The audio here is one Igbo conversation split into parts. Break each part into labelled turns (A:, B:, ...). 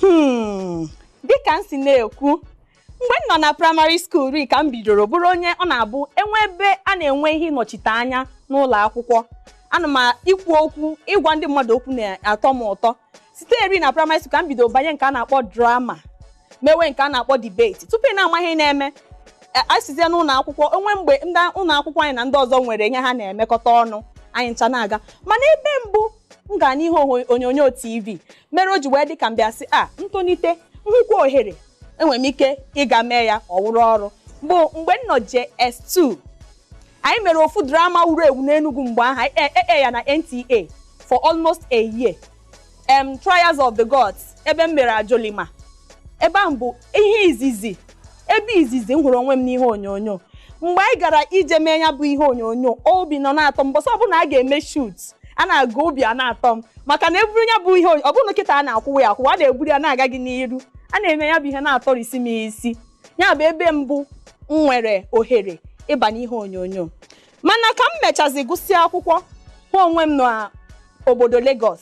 A: Hmm, dịka m si na-ekwu mgbe m nọ na primary school ri ka m bidoro bụrụ onye ọ na-abụ e nwee ebe a na-enwe ihe ịnọchite anya n'ụlọ akwụkwọ ana m ikwu okwu ịgwa ndị mmadụ okwu na-atọ m ụtọ site eri na primary school ka m bidoro banye nke a na-akpọ drama mewe nke a na-akpọ debate tupu ị na-ama ihe na-eme a- a sizie n'ụlọ akwụkwọ o nwee mgbe ndị ụlọ akwụkwọ anyị na ndị ọzọ nwere ihe ha na-emekọta ọnụ anyị ncha na-aga mana ebe mbụ m gara n'ihe onyo- onyonyo tv mere o ji wee dị ka m bịa sị a m tolite m hụkwa ohere enwere m ike ịga mee ya ọ wụrụ ọrụ bụ mgbe m nọ JS2 anyị mere ofu drama wuru ewu n'Enugu mgbe ahụ anyị ekpe ya na NTA for almost a year em Trials of the Gods ebe m mere Ajolima ebe ahụ bụ ihe izizi ebe izizi m hụrụ onwe m n'ihe onyonyo mgbe anyị gara ije mee ya bụ ihe onyonyo obi nọ na-atọ m mbọsị ọbụla a ga-eme shoot a na-aga obi a na-atọ m maka na eburu ya bụ ihe onyo- ọ bụrụ na kịta a na-akwụwa ya akwụwa a na-eburu ya na-aga gị n'iru a na-eme ya bụ ihe na-atọrisi m isi ya bụ ebe mbụ m nwere ohere ịba n'ihe onyonyo mana ka m mechazi gụsịa akwụkwọ hụ onwe m n'obodo Lagos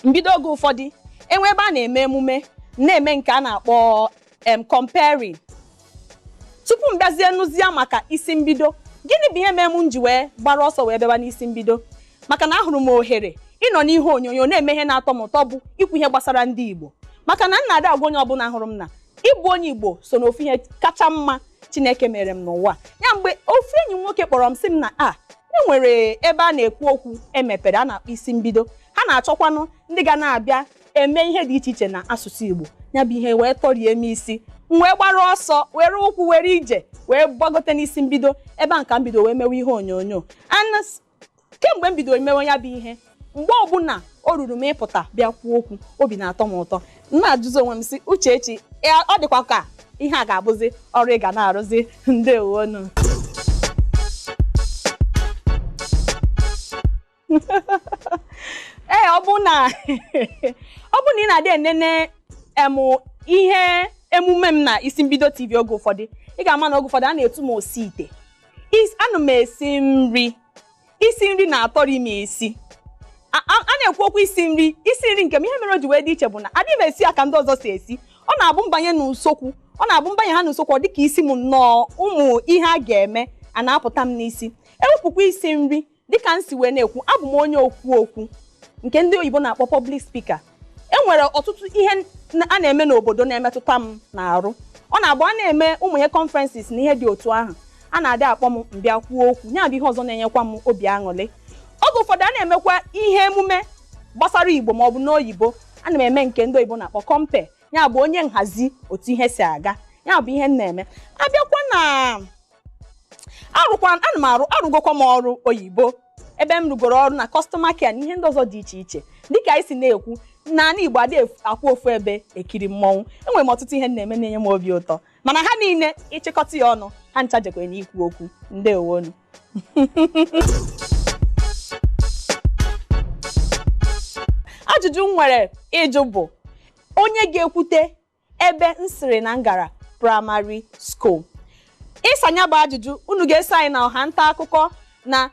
A: m bido oge ụfọdụ e nwee ebe a na-eme emume na-eme nke a na-akpọ em compering tupu m bịazie nụzie maka isi mbido gịnị bụ ihe mere m ji wee gbara ọsọ wee bịaba n'isi mbido maka na ahụrụ m ohere ịnọ n'ihe onyonyo na-eme ihe na-atọ m ụtọ bụ ikwu ihe gbasara ndị Igbo maka na m na-adị agwa onye ọbụla hụrụ m na ịbụ onye Igbo so n'ofu ihe kacha mma Chineke mere m n'ụwa ya mgbe ofu enyi m nwoke kpọrọ m sị m na a e nwere ebe a na-ekwu okwu e mepere a na-akpọ isi mbido ha na-achọkwanụ ndị ga na-abịa eme ihe dị iche iche na asụsụ Igbo ya bụ ihe wee tọrie m isi m wee gbara ọsọ were ụkwụ were ije wee gbagote n'isi mbido ebe ahụ ka m bido wee mewe ihe onyonyo and kemgbe m bidoro mewe ya bụ ihe mgbe ọbụla o ruru m ịpụta bịa kwuo okwu obi na-atọ m ụtọ m na-ajụzi onwe m sị Uchechi ya- ọ dịkwa ka ihe a ga-abụzi ọrụ ị ga na-arụzi ndewonu ee ọ bụ na ọ bụ na ị na-adị enene em ihe emume m na isi mbido tv oge ụfọdụ ị ga-ama na oge ụfọdụ a na-etu m osi ite Is- ana m esi nri isi nri na-atọri m isi a a- a na-ekwu okwu isi nri isi nri nke m ihe mere o ji wee dị iche bụ na adịghị m esi ya ka ndị ọzọ si esi ọ na-abụ m banye n'usokwu ọ na-abụ m banye ha n'usokwu ọ dị ka isi m nnọọ ụmụ ihe a ga-eme a na-apụta m n'isi e wepụkwa isi nri dịka m si wee na-ekwu abụ m onye okwu okwu nke ndị oyibo na-akpọ public speaker e nwere ọtụtụ ihe a na-eme n'obodo na-emetụta m n'arụ ọ na-abụ a na-eme ụmụ ihe conferences na ihe dị otu ahụ a na-adị akpọ m m bịa kwuo okwu ya bụ ihe ọzọ na-enyekwa m obi aṅụrị oge ụfọdụ a na-emekwa ihe emume gbasara igbo ma ọ bụ n'oyibo ana m eme nke ndị oyibo na-akpọ compere ya bụ onye nhazi otu ihe si aga ya bụ ihe m na-eme a bịakwa na arụkwa ana m arụ arụgokwa m ọrụ oyibo ebe m rụgoro ọrụ na customer care na ihe ndị ọzọ dị iche iche dịka anyị si na-ekwu n'anị igbo adị akwụ ofu ebe ekiri mmọnwụ enwere m ọtụtụ ihe m na-eme na-enye m obi ụtọ mana ha niile ị chịkọta ya ọnụ ha ncha jekwe na ikwu okwu ndewonu ajụjụ m nwere ịjụ bụ onye ga-ekwute ebe m sịrị na m gara primary school ịsa nya bụ ajụjụ unu ga-eso anyị na ọha nta akụkọ na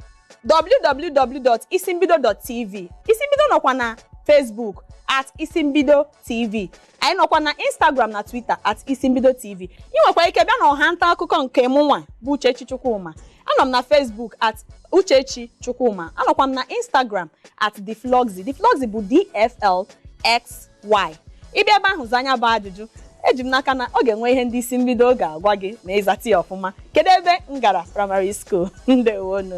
A: www.isimbido.tv isimbido nọkwa na Facebook at isimbido tv anyị nọkwa na Instagram na Twitter at isimbido tv ị nwekwa ike bịa na ọha nta akụkọ nke mụnwa bụ Uchechi Chukwuma anọ m na Facebook at Uchechi Chukwuma anọkwa m na Instagram at dfloxy dfloxy bụ dflx Y. Ị bịa ebe ahụ zaa nya bụ ajụjụ, eji m n'aka na ọ ga-enwe ihe ndị Isimbido ga-agwa gị ma ị zata ya ọfụma. Kedu ebe m gara primary school? Ndewonu.